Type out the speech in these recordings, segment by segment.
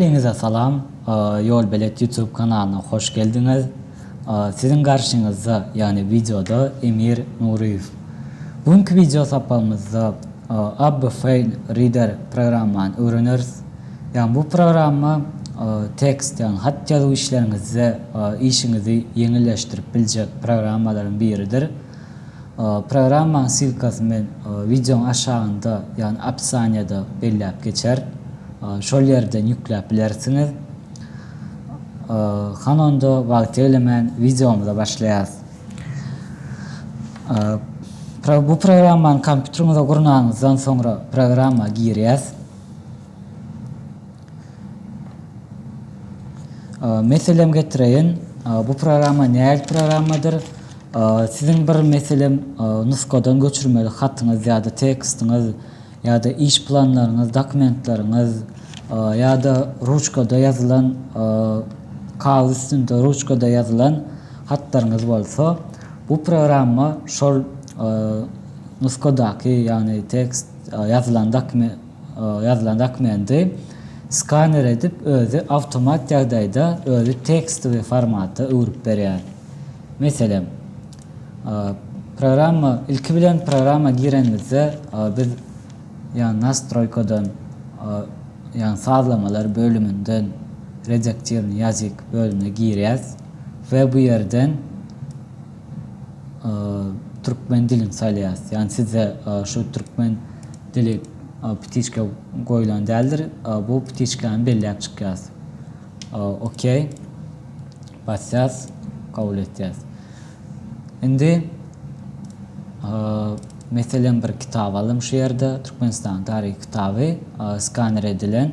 Ähliňize salam! Ýolbelet YouTube kanalyna hoş geldiňiz! Siziň garşyňyzda, ýagny wideoda Emir Nuryýew. Bu günki wideo sapagymyzda Abby File Reader programmany öwreneris. Ýagny bu programma tekst, ýagny hat ýazuw işleriňizde işiňizi ýeňilleşdirip biljek programmalaryň biridir. Programmaň silkasy men wideoň aşagynda, ýagny opisaniýada belläp geçer. Şol ýerden ýükläp bilersiňiz. Hany onda wagt eglemän wideomyza başlaýarys. Bu programmany kompýuteriňize gurnanyňyzdan soňra programma girýäs. Meselem getireýin. Bu programma nähili programmadyr? Siziň bir meselem nusgadan göçürmeli hatyňyz ýa-da tekstiňiz ýa-da iş planlaryňyz, dokumentleriňiz ýa-da ruçkada ýazylan, kagyz üstünde ruçkada ýazylan hatlaryňyz bolsa, bu programma şol nusgadaky, ýagny tekst ýazylan dokument, ýazylan dokumenty skaner edip özi awtomat ýagdaýda özi tekstowy formata öwrüp berýär. Meselem, programma ilki bilen programma girenimizde biz ýa nastroýkadan ýa sazlamalar bölüminden redaktirnýý ýazyk bölümine girýäs we bu ýerden Türkmen dilin saýlaýas. Ýani sizde şu türkmen dili ptiçka goýulan däldir. Bu ptiçkany belläp çykýas. OK basýas, kabul etýäs. Indi meselem bir kitap alym şu ýerde Türkmenistanyň taryhy kitaby skaner edilen.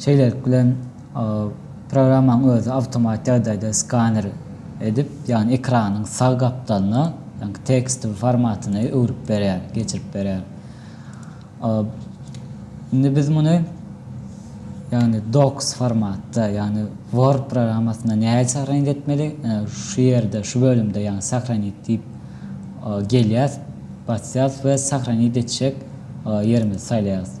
Şeýlelik bilen, programmaň özi awtomat ýagdaýda skaner edip, ýagny ekranyň sag gapdalyna, ýagny tekstowy formatyny öwrüp berýär, geçirip berýär. Indi biz muny, ýagny docs formatda, ýagny word programmasynda nädip sahranit etmeli? Ine, şu ýerde, şu bölümde, ýagny sahranit diýip gelýäs, basýas we sahranit etjek ýerimizi saýlaýas.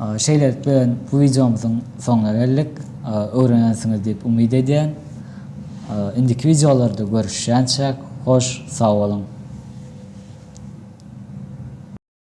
Şeýlelik bilen bu wideomyzyň soňuna geldik. Öwrenensiňiz diýip umyt edýän. Indiki wideolarda görüşýänçäk hoş sag boluň.